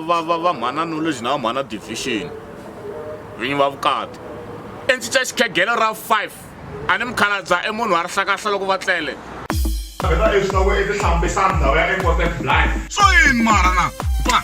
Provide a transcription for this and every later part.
va va va mhana knowledge na va mhana division vinyi va vukati i ndzi ca xikhegelo ra 5 a ni mukhaladza i munhu wa rihlakahla loko va tlele so yini mara na ba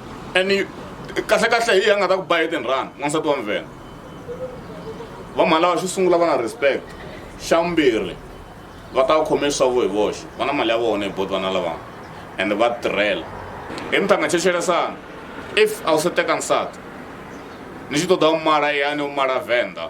and kahle kahle hi a nga ta ku ba hi tinrani n'wansati wa mvhena va mhalawa xo sungula va na respect xa vumbirhi va ta khome swavo hi voxe va na mali ya vona hi boti vana lavana and va tirhela hi mi ta nga checheresana if a wu se teka nsati ni xi toda u mala yani u mala venda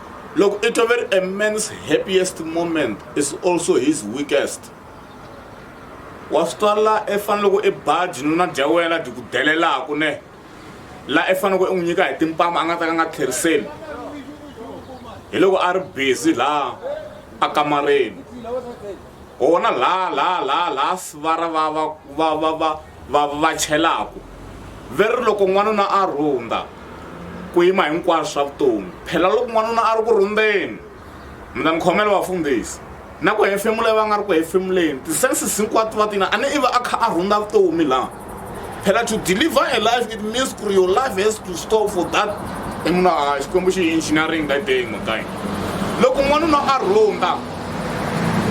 Loko i toveri a man's happiest moment is also his weakest wa swi twa la i fanele loko i ba jinuna dya wena byi ku delelaku ne la i faneleke i n'wi nyika hi timpama a nga ta ka nga tlheriseli hi loko a ri busy laha a kamareni wona laha laha laha laha sivara va va va va va va va chelaku ve ri loko n'wanuna a rhunda ku yima hinkwaswo swa vutomi phela loko n'wanuna a ri ku rhundeni mi ta ni khomela vafundhisi na ku hefemula va nga ri ku hefemuleni ti-senses hinkwato va tina a ni iva a kha a rhunda vutomi laha phela to deliver a life it means ku ri your life has to stop for that i munhu a xikwembu xi engineering that day makayi loko n'wanuna a rhunda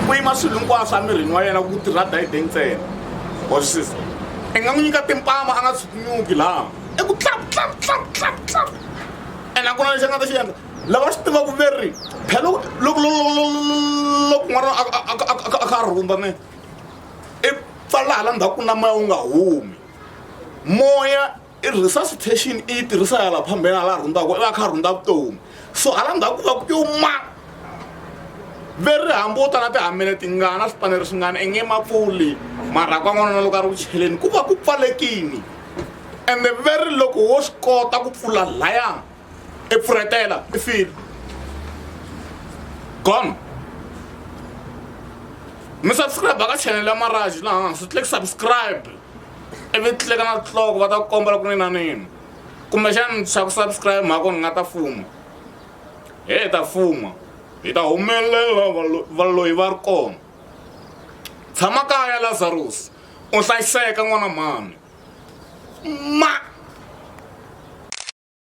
ku yima swilo hinkwaswo emirini wa yena ku tirha dayideng ntsena wa swi siza i nga n'wi nyika timpama a nga tshukunyuki laha i ku tlap tlap tlap tlap tlap ene a ku na lexi a nga ta xi endla lava swi tivaku veri phela loko loko n'wana a kha a rhumba mina i pfala hala ndzhaku na moya wu nga humi moya i resuscitation i yi tirhisa ya la phambeni a la rhundzaku i va kha a rhundza vutomi so hala ndzhaku ku va ku yo ma ve ri hambuta na tihambele tingana swipanelo swingana i nge ma pfuli marhaku a n'wanana loko a ri ku cheleni ku va ku pfalekini and the very loko wo swi kota ku pfula laya i pfuretela i file gone mi subscribe ka channel ya maraji laha hansi click subscribe ivi tleka na tloko va ta ku komba loko ni na nini kumbexani xa ku subscribe mhako ni nga ta fuma he ta fuma hi ta humelela valoyi va ri kona tshama kaya lazarus u hlayiseka n'wana mhani ma